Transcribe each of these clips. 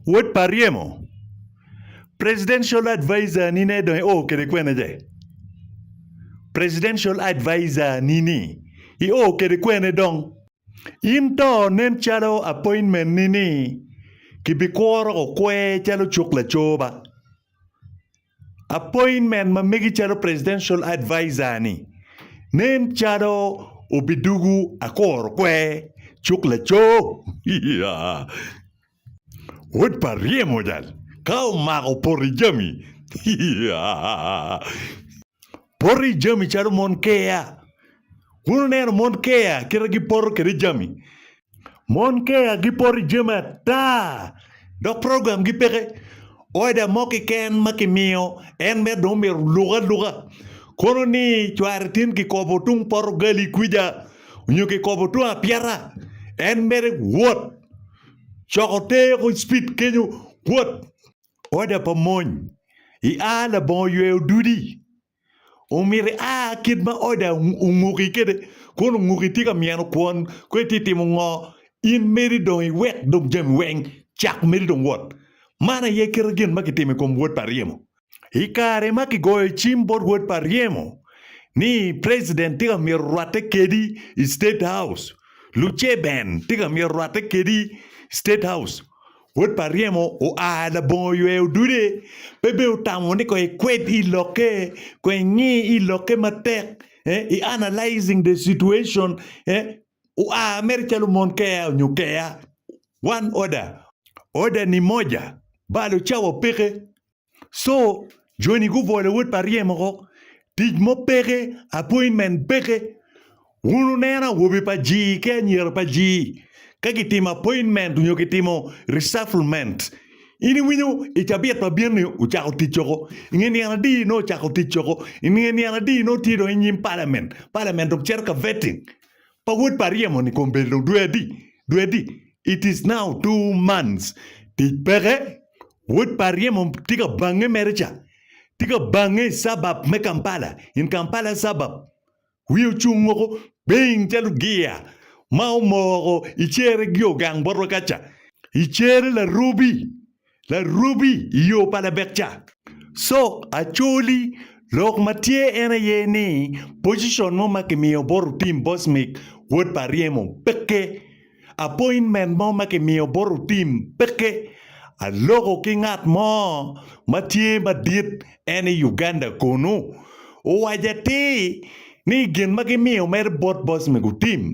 Wod pa ryemo. Presidential advisor ni ne dong ioo kede kwene je? Presidential advisor ni ni ioo kede kwene dong? In to nen calo appointment ni ni ki bi kworo okwe calo cuk lacoba. Appointment ma megi calo Presidential Adviser ni nen calo obidugu akoro kwer cuk lacoo. Wod pa ryemo jal ka omako poti jami. Poti jami calo mon keya. Wun wuneno mon keya kite gipoto kede jami. Mon Kea gipoto i jami ata dok programgi peke. Oda mo keken ma kimiyo en mere dong myero oluk aluka. Kono ni cware tin kikobo tung poto gali kwica nyo kikobo tung apyeta, en mere wot coko te ko cpit kenyo wot. Oda pa mony, I a labongo yweyo dudi. Omyero ia kit ma oda onguki kwede, kono onguki tye ka myeno kwon, kono itye ka timo ngo? In meri dong iwek dong jami weng cak meri dong wot. Man aye kite gin ma kitimo i kom wod pa ryemo. I kare ma kigoyo cim bot wod pa ryemo ni president tye ka myero orwatte kedi i state house, luce ben tye ka myero orwatte kedi i state house. Wod pa ryemo oa labongo oywe odude, pe be otamo ni kong ikwed i lokke, kong ingi i lokke matek, eh, i analyzing the situation, eh, oa mere calo mon keya onyo keya. One order. Order ni moja, balo cawa peke. So joni gubolo wod pa ryemo ko tic mo peke appointment peke wun wuneno awobe pa jii ki anyira pa jii ka gitimo appointment nyo gitimo resufflement in iwinyo i cabit ma bino ni wucako tic woko inge nino adi nongo wucako tic woko inge nino adi nongo tye dong inyim parliament parliament dong cito ka vetting pa wod pa ryemo ni kom belo dwe adi dwe adi it is now two months tic peke wod pa ryemo tye ka bange mere ca tye ka bange i suburb me Kampala in Kampala suburb wiye ocung woko ping calo gia ma omoko i cere gio gang botwa kaca i cere larubi Larubi i yo pa labek ca. Cok Acholi, Lok ma tye en aye ni pocicon mo ma kimiyo bot otim Bosmic wod pa Aryemo peke. Apointment mo ma kimiyo bot otim peke. Aloko ki ngat mo ma tye madit en i Uganda kunu. Owaco atir ni gin ma gimiyo mere bot Bosmic otim.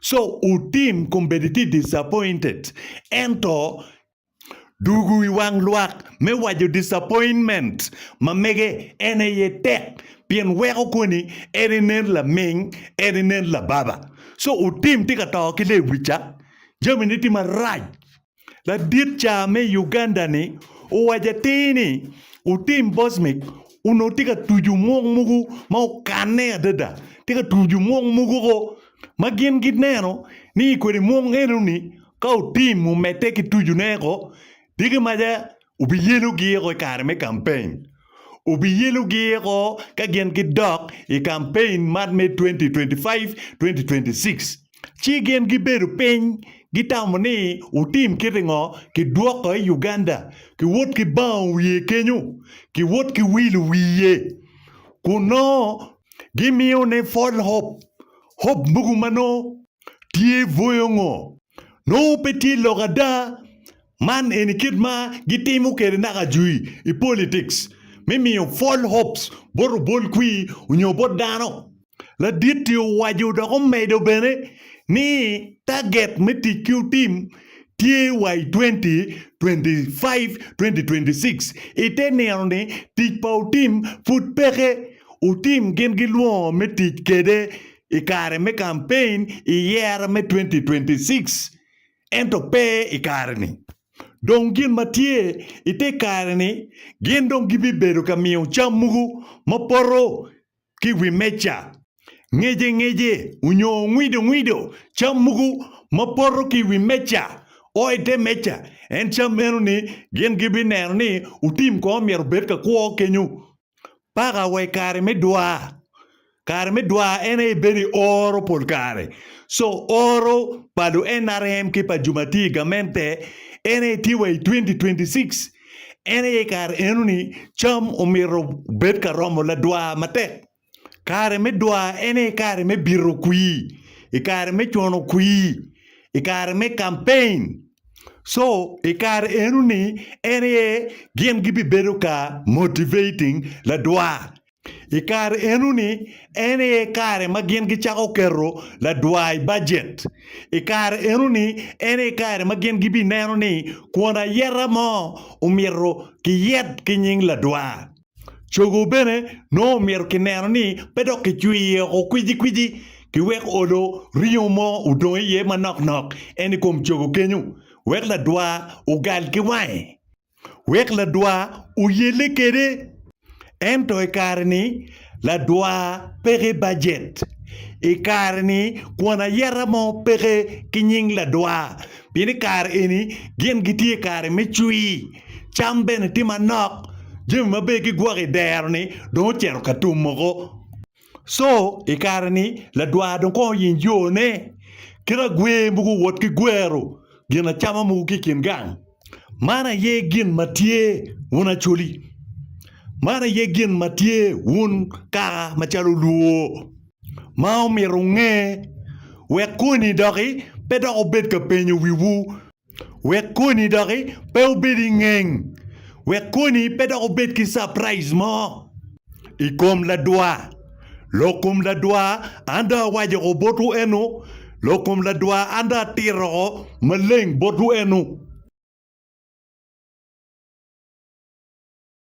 So otim kombeddi tye disappointed ento dugu i wang lwak me waco disappointment ma mege en aye tek pien weko koni en inen laming en inen lababa. So otim tye ka to ki lewica jamine tye marac. Ladit caa me Uganda ni owaco atir ni otim Bosmic onongo tye ka tucu mwok mogo ma okanne adada. Tye ka tucu mwok mogo ko ma gin gineno ni kwede mwok enoni ka otim omedde ki tucune ko, dyegi maca Wubiyelo giyeko i kare me kampein. Wubiyelo giyeko ka gin gidok i kampein man me 2025-2026. Ci gin gibedo piny gitamo ni wutim kiti ngo ki dwoko i Uganda ki wot ki bango wiye kenyo ki wot ki wilo wiye kun nongo gimiyo ne fol hop hop mogo manongo tye bwoyo ngo nongo pe tye lok ada Man eni kit ma gitimo kwede naka jui i politics, me miyo false hopes bot obol kwir onyo bot dano. Ladit-ti owaco dok omedo bene ni taget me tic ki otim tye wa i 2025-2026. I te nino-ni, tic pa otim pud peke. Otim gin gilwongo me tic kwede i kare me kampein i yero me 2026. ento pe i kare-ni. Dong gin ma tye i te kare-ni, gin dong gibibedo ka miyo cam mogo ma poto ki i wi meja, ngece ngece onyo ngwido ngwido cam mogo ma poto ki i wi meja, o i te meja, en cam meno-ni gin gibineno ni otim kong myero obed ka kwo kenyo. Paka wa i kare me dwar. Kare me dwar en aye bedo i oro pol kare. So oro pa lu NRM ki pa Jumatir i gamente en aye tye wa i 2026. En aye i kare enoni cam omyero obed ka romo ladwar matek. Kare me dwar en aye kare me bito kwir, i kare me cwano kwir, i kare me campaign. So i kare eno ni en aye gin gibibedo ka motivating ladwar. I kare eno ni en aye kare ma gin gicako keto ladwar i bajet. I kare eno ni en aye kare ma gin gibineno ni kwon ayeta mo omyero kiyet ki nying ladwar. Cogo bene nongo omyero kineno ni pe dok kicwiyo iye oko kwici kwici ki wek odo ringo mo odong iye manok nok en i kom cogo kenyo, wek ladwa ogal ki wange, wek ladwa oyelle kwede. Ento i kare-ni, ladwa peke bajet. I kare-ni, kwon ayeta mo peke ki nying ladwa, pien i kare eni gin gitye i kare me cwi. Cam bene tye manok. Jami maber ki gwok i dero-ni dong ocito ka tum moko. Co i kare-ni ladwar dong kono oyiny yone kit agwer mogo owot ki gwero gin acama mogo ki i kin gang. Man aye gin ma tye, wun Acholi. Man aye gin ma tye, wun kaka macalo olwo, ma omito wunge, wek koni doki pe dok wubed ka penyo wiwu. wek koni doki pe obed ingeng wek koni pe dok obed ki capraij mo ikom ladwa lok kom ladwa an dong awaco woko botwu eno lok kom ladwa an dong atito woko maleng botwu eno.